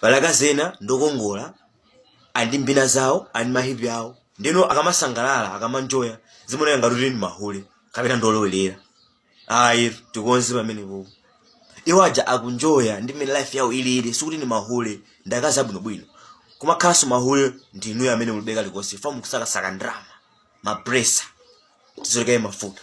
pali akazi ena ndokongola ali ndi mbina zawo ali ndi mahipi awo ndiyeno akamasangalala akamanjoya zimaoneka ngati kuti ndi mahule kapena ndolowerera ayi tikonze pamenepo iwo aja akuenjoya ndi mmene life yawo ilili sikuti ndi mahule ndi akazi abwinobwino kumakhalanso mahule ndi inuyo amene mulibe kalikonse ife mukusakasaka ndalama mapresa tizolekaye mafuta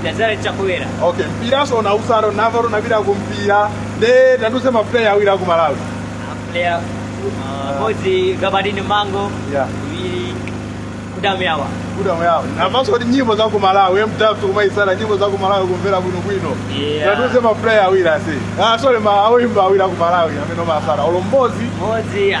ndadzala chakwera okay mpiranso umausapota ndamva kuti unapita kumpira nde tandiuze mapuleya awiri aku malawi player mmodzi gabadinho mhango Yeah. iwiri kudamyawa kudamu yawo ndamvanso kuti nyimbo za ku malawi mtatu umazitsata nyimbo za ku malawi kumvera bwinobwino Yeah. tandiuze mapuleya awiri ase ah, sorry ma awoimba awiri aku malawi amene umatsata olo mmodzi modzi ah,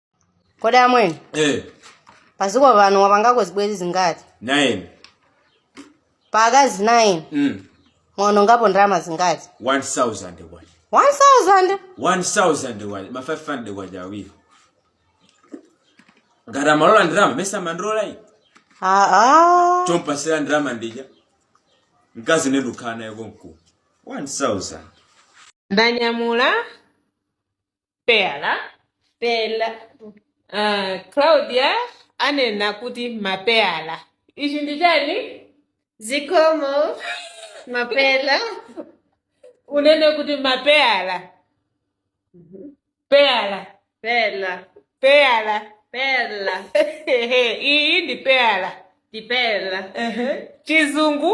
kodi amwene eh padziko pano wapangako zibwezi zingati nine pa akazi 9 mm mwaonongapo ndalama zingati 1000 kwacha 1000 1000 kwacha ma 500 kwacha awiri ngati amalola ndalama mesa mandilola iyi aa chompatsira ndalama ndi ija mkazi nde ndikukhala naye konkuno 1000 ndanyamula peyala pela uh, Claudia anena kuti mapeyala ichi ndi chani zikomo mapela unene kuti mapeyala peyala pela peyala pela iyi ndi peyala ndi pela chizungu